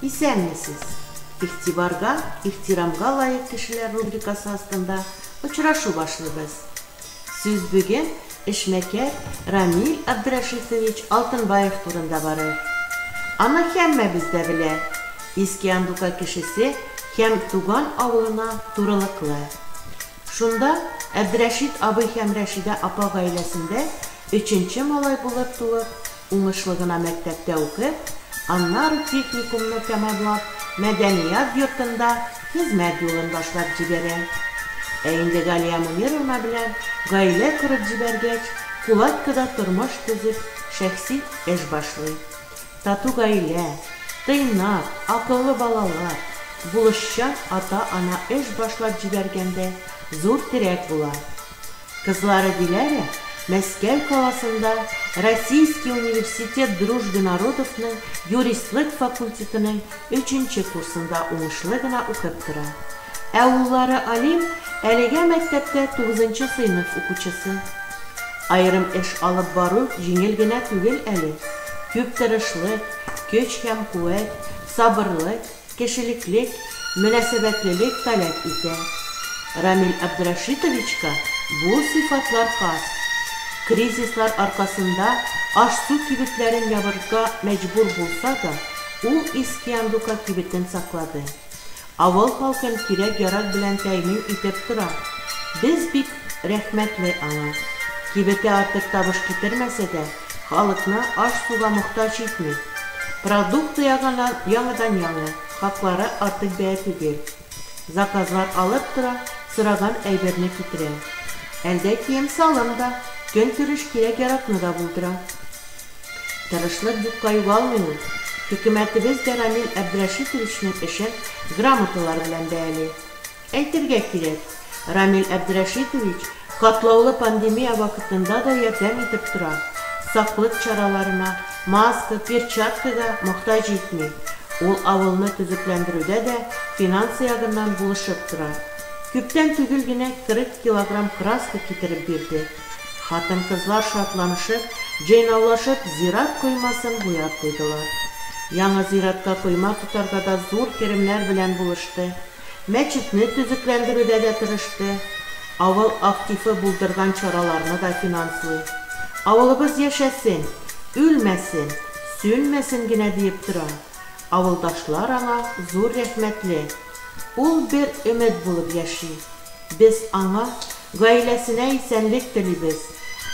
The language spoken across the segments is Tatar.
Исәнмесез! Игътибарга, ихтирамга лаек кешеләр рубрикасы астында очрашу башлыйбыз. Сүз бүген эшмәкәр Рамил Абдрәшитович Алтынбаев турында барыр. Аны һәммәбез дә белә, Иске Андука кешесе һәм туган авылына турылыклы. Шунда Әбдрәшит абый һәм Рәшидә апа гаиләсендә өченче малай булып туып, Уңышлы гына мәктәптә укып, аннары техникумны тәмамлап, мәдәният йортында хезмәт юлын башлап җибәрә. Ә инде Галия Мөнировна белән гаилә корып җибәргәч, Кулаткада тормыш төзеп, шәхси эш башлый. Тату гаилә, тыйнак, акыллы балалар, булышчан ата-ана эш башлап җибәргәндә зур терәк була. Кызлары Диләрә Мәскәү каласында Российский университет дружбы народовның юристлык факультетының өченче курсында уңышлы гына укып тора. Ә уллары Алим әлегә мәктәптә тугызынчы сыйныф укучысы. Аерым эш алып бару җиңел генә түгел әле. Күп тырышлык, көч һәм куәт, сабырлык. кешелеклек, мөнәсәбәтлелек таләп итә. Рамил Абдрәшитовичка бу сыйфатлар хас. Кризислар аркасында аш-су кибетләрен ябырга мәҗбүр булса да, ул Искиандука кибетен саклады. Авыл халкын кирәк-ярак белән тәэмин итеп тора. Без бик рәхмәтле аңа. Кибете артык табыш китермәсә дә, Халыкны аш-суга мохтаҗ итми. Продукты ягыннан яңадан-яңа, хаклары артык бәя түгел. Заказлар алып тора, сораган әйберне китерә. Әлдә кием-салым да, көнкүреш кирәк-яракны да булдыра. Тырышлык юкка югалмый ул. Хөкүмәтебез дә Рамил Әбдрәшитовичның эшен грамоталар белән бәяли. Әйтергә кирәк, Рамил Әбдрәшитович катлаулы пандемия вакытында да ярдәм итеп тора, саклык чараларына, маска, перчаткага мохтаҗ җитми. Ул авылны төзекләндерүдә дә финансы ягыннан булышып тора. Күптән түгел генә 40 килограмм краска китереп бирде. Хатын-кызлар шатланышып, җыйнаулашып зират коймасын буяп куйдылар. Яңа зиратка койма тотарга да зур керемнәр белән булышты. Мәчетне төзекләндерүдә дә тырышты, авыл активы булдырган чараларны да финанслый. Авылыбыз яшәсен, үлмәсен, сүнмәсен генә диеп тора. Авылдашлар аңа зур рәхмәтле. Ул бер өмет булып яши. Без аңа Гаиләсенә исәнлек телибез,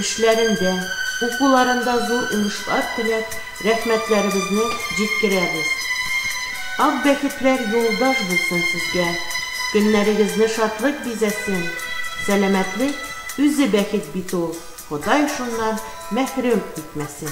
эшләрендә, укуларында зур уңышлар теләп, рәхмәтләребезне җиткерәбез. Ак бәхетләр юлдаш булсын сезгә, көннәрегезне шатлык бизәсен! Сәламәтлек, үзе бәхет бит ул, Ходай шуннан мәхрүм итмәсен!